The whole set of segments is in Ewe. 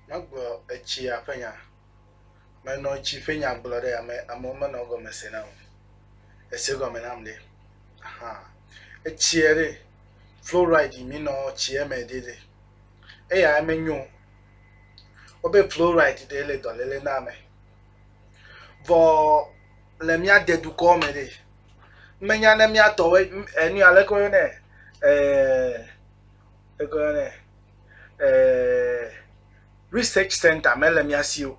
Megblɔ etsia ƒe nya. Menɔ tsi ƒe nya gblɔ ɖe ame amewo menɔ egɔme se nam o. Ese gɔme nam ɖe? Aha. Etsia ɖe fluoride mi nɔ tsia me ɖe ɖe. Eya menyo. Wobe fluoride ɖe le dɔlele na ame. Vɔ le mía de dukɔ me ɖe. Menya ne mía tɔwo enu aleke woyɔ nɛ. Eh, Egblɔ nɛ, eh, research center mele mía si o.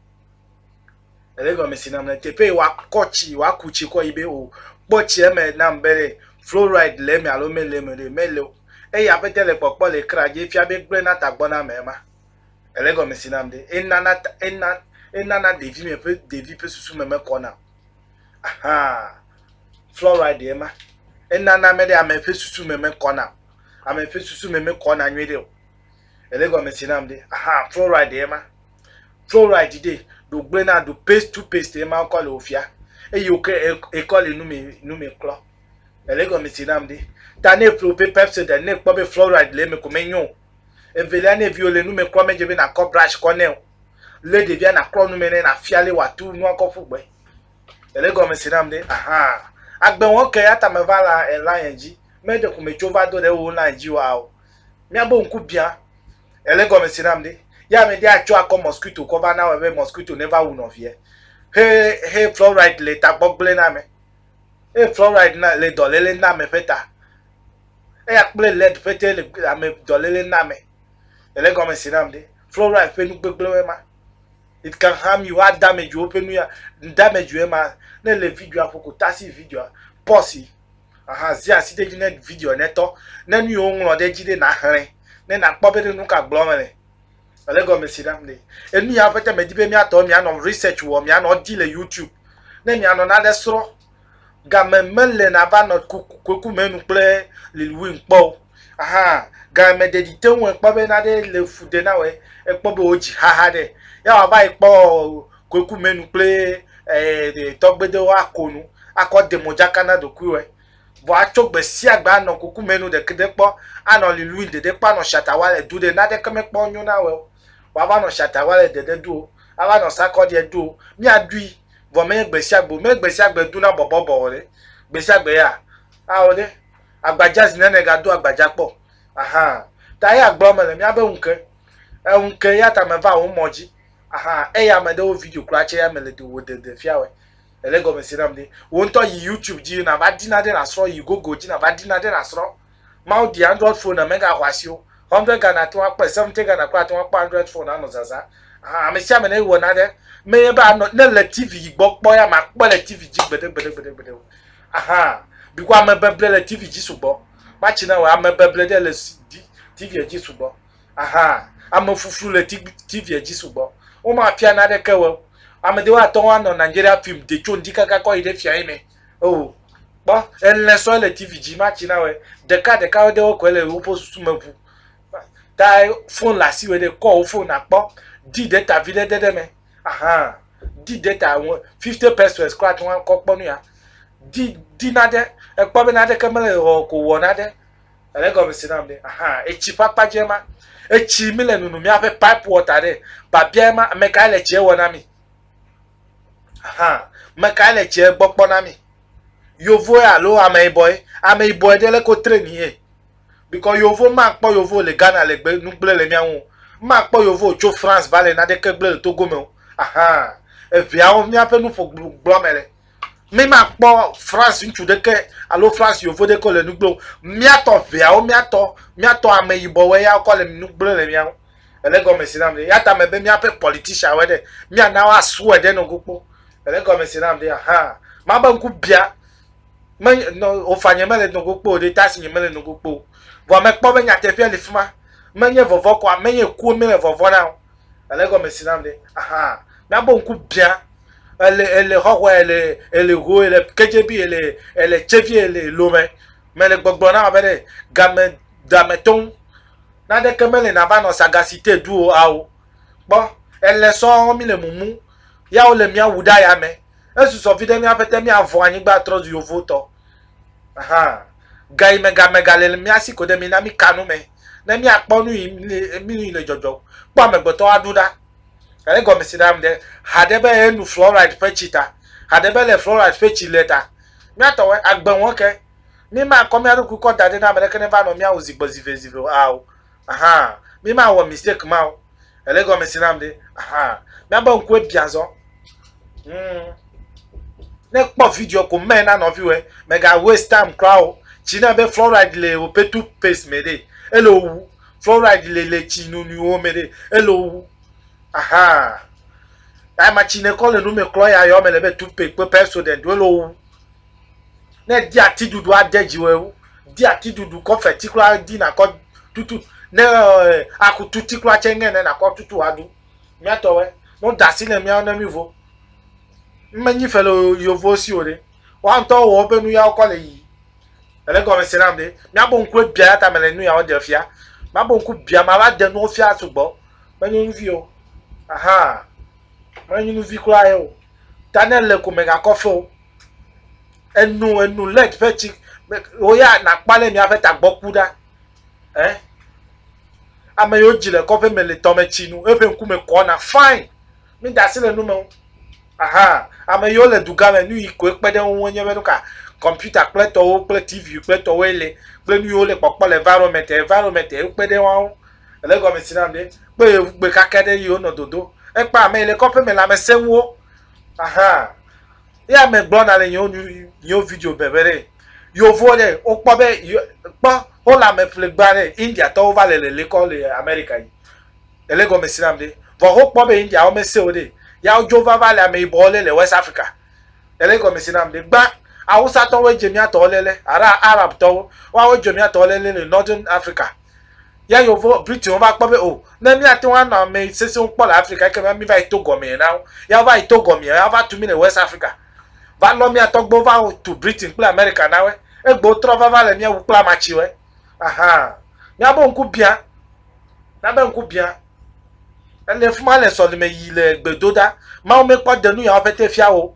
Ele gɔme si nam le teƒe wa kɔ tsi, wa ku tsi kɔ yi be o kpɔ tsi eme nam be ɖe fluoride le eme alo mele eme ɖe mele o. Eye aƒete le kpɔkpɔ le kra dzi efia be gblẽ na tagbɔ na ame ma. Ele gɔme si nam ɖe enana ena enana ɖevi me ƒe ɖevi ƒe susu me mekɔna o. Aha. Fluoride ema. Enana me ɖe ame ƒe susu me mekɔna o. ame ƒe susu me mekɔna nyuiɖe o ele gɔme si nam ɖe aha fluoride ye ma fluoride ɖe ɖo gblẽ na ɖo paste to paste ye ma kɔ le wò fia eye wòke ekɔ le nume nume klɔ ele gɔme si nam ɖe ta ne ƒle woƒe pepsodent ne kpɔ be fluoride le eme ko menyo o evelia ne viwo le nume klɔ medze be nakɔ brush kɔ nɛ o lé ɖevia naklɔ nume nɛ nafia le wòatu nua kɔ ƒu gbe Ele gɔme si nam ɖe. Ahaa. Agbe wɔn ke ya ta me va la ela yɛn dzi. Me ɖe ko me tso va do ɖe wo la yɛn dzi wa o. Mia bo ŋku bia. Ele gɔme si nam ɖe. Ya me ɖe atso akɔ mosquito kɔ va na wɔ be mosquito ne va wu nɔ vie. He he fluoride le ta gbɔ gble na me. He fluoride na le dɔ lele na me ƒe ta. Eya kple led ƒe te le ame dɔ lele na me. Ele gɔme si nam ɖe. Fluoride ƒe nu gbegble ma. it can harm you a damage wo ƒe nu ya damage wo ma ne le video aƒo ko tasi video pɔsi aha zi asi ɖe dzi ne video ne tɔ ne nu yiwo ŋlɔ ɖe dzi ɖe na xlẽ ne na kpɔ be ɖe nu ka gblɔ me le ele gɔme si ɖam le enu ya ƒe te me di be mia tɔ mia nɔ research wɔ mia nɔ di le youtube ne mia nɔ na ɖe srɔ Game mele na va nɔ kuku me nu kple Lil Win kpɔ o. Ahan, game ɖe ɖi te ŋu ekpɔ be naɖe le fu de na wɛ ekpɔ be wo dzi xaxa ɖe. Ya wa va yi kpɔ kuku me nu kple eh tɔgbe de wo a ko nu, a kɔ de modzaka na ɖokui wɛ. Vɔ a tso gbe sia gbe a nɔ kuku me nu ɖe ke ɖe kpɔ, a nɔ Lil Win ɖeɖe kpɔ a nɔ shata wa le du ɖe naɖe ke me kpɔ nyo na wɛ o. Wa va nɔ shata wa le ɖeɖe du o, a va nɔ sakɔɖiɛ du o. Mia ɖui. vɔ menye gbe sia gbe o. Menye gbe sia gbe dona bɔbɔbɔ o ɖe. Gbe sia gbe ya ao ɖe. Agbadza zi nene gado agbadza kpɔ. Ahan. Ta eya gblɔ mele míabe ŋu ke. Eŋu ke eya ta meva wò mɔ dzi. Ahan. Eya ame ɖewo video kura tse ya mele do wò dede fia wɛ. Ele egɔme se nam ɖe. Wò ŋutɔ yi YouTube dzi nava ɖi naɖe nasrɔ. Yi Google dzi nava ɖi naɖe nasrɔ. Mawu di Android phone ame ga hɔasiwo. Hundred Ghana ate ŋu akpɔe, seventy Ghana kura ate ŋu akpɔ Android phone anɔ zazã. Ahan, ame sia ame ne wɔ nane me ye be anɔ ne le TV yi gbɔ kpɔ ya makpɔe le TV dzi gbeɖe gbeɖe gbeɖe gbeɖe o. Ahan, biko ame beble le TV dzi sugbɔ. Matsi na wɔ ame beble ɖe le TV dzi sugbɔ. Ahan, ame fuflu le TV dzi sugbɔ. Wo ma fia nane ke wɔ. Ame ɖewo ate ŋu anɔ Nigeria film de tso ŋdi kaka kɔ yi ɖe fia ye me. Oh, kpɔ elɛ sɔ le TV dzi ma tsi na wɛ ɖeka ɖeka wo de wo kɔ le woƒe susu me ʋu ta fon le asi wɛ ɖe kɔ wo fon akpɔ di data vi ɖe de ɖe me ahan di data ŋu fifty pesos kɔ ati ŋu akɔ kpɔ nu ya di di na ɖe ekpɔ be na ɖe ke mele wɔ ko wɔ na ɖe ele gɔme si nam ɖe ahan etsi ƒe akpa dze ma etsi mi le nunu miaƒe pipe water ɖe babia ma ameka le tsie wɔ na mi. Ahan, mekae le tsie gbɔ kpɔ na mi? Yovoe alo ameyibɔe? Ameyibɔe ɖe le ko train ye. Because yovo makpɔ yovo le Ghana le gbe nugble le miawo. Makpɔ yovo tso France va le nadeke gble le Togo me o. Ahan, eveawo miaƒe nuƒo gblɔ me le. Mi makpɔ France ŋutsu ɖeke alo France yovo ɖeke le nugble o. Miatɔ veawo miatɔ miatɔ ameyibɔe ya kɔ le nugble le miawo. Ele gɔme si nam ɖe. Ya ta mebe míaƒe politician wɔ ɖe. Míana woasue ɖe nogo kpɔ. Ele gɔme si nam ɖe. Aha. Mabe ŋku bia. Me nɔ ofa nye mele nogo kpɔ o ɖe ta si nye mele nogo kpɔ o. Vɔ mekpɔ be nyateƒea le fi ma. Menye vɔvɔ ko ame ye kuwo mele vɔvɔ na o. Ele gɔme si nam ɖe. Aha. Míabe ŋku bia. Ele ele xɔxɔe ele ele ho ele kedze bi ele ele tse vi ele lome. Mele gbɔgblɔ na wo be ɖe game da me tɔŋ. Naneke mele nava nɔ Sagacite du o ao. Kpɔ, ele sɔɔ mí le mumu ya wo le mía wu ɖe aya mɛ. Esu sɔ viɖe mía ƒete mía vɔn anyigba trɔ zu yovo tɔ. Ahan. Gayi me ga me ga le le mía si koɖe mi na mí ka nu mɛ ne mía kpɔ nu yi le mí nu yi le jɔjɔ o. Kpɔ amegbetɔ aɖu ɖa. Ele gɔmesi ɖa ŋɖe haɖe be enu fluoride ƒe tsi ta. Haɖe be le fluoride ƒe tsi le ta. Mía tɔwɛ agbe wɔn ke. Mímakɔ mía ɖokui kɔ da ɖi ne ame ɖeke neva nɔ mía ŋu zi gbɔ zivezive o ao. Aha! Mímawɔ mistake ma o. Èle egɔmesi nam ɖe? Aha! Míabe ŋkue biã azɔ. Hmm. Ne kpɔ video ko mɛ na nɔviwɔe. Mèga waste time kura o. Tsi ne be fluoride le woƒe toothpaste me ɖe, ele wowu. Fluoride le le tsi nunuiwo me ɖe, ele wowu. Aha! Ama tsi ne kɔ le nu me klɔ ya yɔ me le be toothpaste kple Pepsodent wo ele wowu. Ne di ati ɖuɖu ade dziwɔe wu, di ati ɖuɖu kɔ feti kura di nakɔ tutu ne eh, aku tuti kura tse ŋe ne nakɔ tutu adu. Miatɔwɛ, no dasi ne miawo ne mi vo. Menyi fele yovo si o ɖe. Wa ŋutɔ wɔ woƒe nu yawo kɔ le yi. Ele gɔme se nam ɖe. Miabo ŋku ebia ya ta mele nu yawo de fia. Mabo ŋku bia ma va de nuwo fia sugbɔ. Menye nyuvi o. Aha. Menye nyuvi kura ye o. Ta ne le ko megakɔ fe o. enu enu lɛt ƒe tsi wò ya nàkpɔ ale miaƒe tagbɔ ku ɖa ɛ ame yiwo dzi le kɔƒe me le tɔme tsi nu eƒe ŋkume kɔna fain mi da asi le nu me o aha ame yiwo le dugã me nu yi koe kpe ɖe ŋu nye be nu ka kɔmputa kple tɔwo kple tv kple tɔwoe le kple nu yiwo le kpɔkpɔ le environment environment ekpe ɖe wɔn ŋu ele gɔme si nam ɖe kpe gbe kaka ɖe yiwo nɔ dodo ekpe ame yi le kɔƒe me lãmesẽnuwo Ahan. Ye ame gblɔna le yewo nu yewo video be be ɖe yovo ɖe wokpɔ be yo- kpɔ wole ame ƒlegba ɖe India tɔwo va le lele kɔ le America yi. Ele gɔme si nam ɖe. Vɔ wokpɔ be India wo mese o ɖe. Ya wodzo va va le ame yibɔwo le le West Africa. Ele gɔme si nam ɖe. Gbã Awusatɔwoe dze mía tɔwo le le alo Arabtɔwo. Woawoe dze mía tɔwo le le le Northern Africa. Ya yewo Britainwo va kpɔ be o, oh, ne míate ŋu anɔ ame sesẽwo kpɔ le Afrika ekema mi va yi to gɔmee na wo. Ya wova yi to gɔmee, ya wova tu mi le West Africa. Va lɔ mía tɔgbewo va tu Britain kple America na we. Egbe wotrɔ va va le mía wu kple amatsi we. Aha. Mía bo ŋku bia. Mía be ŋku bia. Ele fuma le sɔlime yi le gbedoda. Mawu mekpɔ denu ya wo pete fia wo.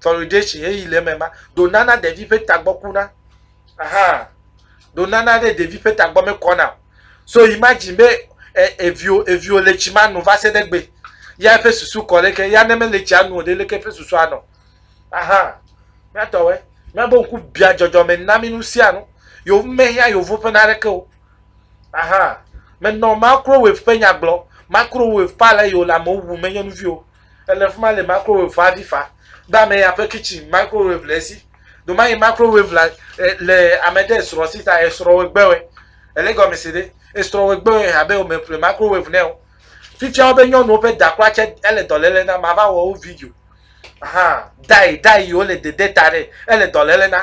fluoridation heyi le eme ma ɖo nana ɖevi ƒe tagbɔ kuna aha ɖo nana ɖe ɖevi ƒe tagbɔ mekɔna o so imagine be e, evio evio le tsi ma nu va se ɖe gbe ya eƒe susu kɔ ɖe ke ya ne mele tsia nu o ɖe leke eƒe susu anɔ aha míatɔwɔe míabe ŋku bia dzɔdzɔme na mi nu sia nu yewo mehia yewo ƒe na ɖeke o aha menɔ makro wave ƒe nyagblɔ makro wave pale yewo le amewo wu menye nu vi o Ele fima le microwave ƒe aɖi fa be ame ya ƒe kitchen microwave le esi. Domayi microwave la le ame ɖe esrɔ̃ si ta esrɔ̃ wo gbewe. Ele gɔme se ɖe? Esrɔ̃ wo gbewe abe wome ƒle microwave nɛ o. Fifia wobe nyɔnuwo ƒe da kura tse ele dɔlele na. Mava wɔ wo video. Ahan, dayi dayi yi wole dede ta ɖe ele dɔlele na.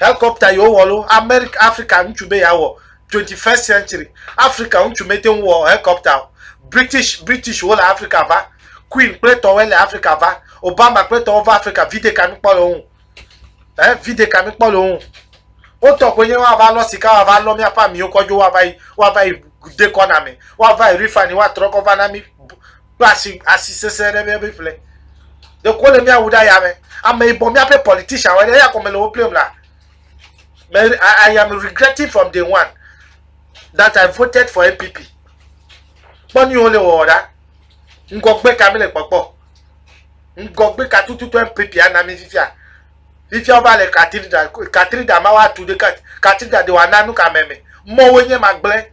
Helikɔpta yi wowɔ ɖo, Amerika, Afrika ŋutsu be yeawɔ, twenty first century, Afrika ŋutsu mete ŋu wɔ helikɔpta o. British, British wole Afrika va, Queen kple tɔwoe le Afrika va, Obama kple tɔwo va Afrika, vide ka mi kpɔ le wo ŋu? Ɛ, vide ka mi kpɔ le wo ŋu? Wo tɔ koe nye woava lɔ sika, woava lɔ míaƒe amiwo kɔ dzo, woava yi, woava yi de kɔ na mi, woava yi refinery woatrɔ kɔ va na mi. do asi asi sese ɖe mía be ƒle de ko le mía wu ɖa ya me ame yibɔ mía pe politician wɔ ɖe ya kɔme le wo plem la me I, I am regretting from day one that I voted for NPP kpɔ ni wo le wɔ ɖa ŋgɔgbe ka mi le kpɔkpɔ ŋgɔgbe ka tututu NPP ana mi fifia fifia wova le katrida katrida ma wa tu ɖe katrida de wa nanu ka mɛ me mɔwo nye ma gblẽ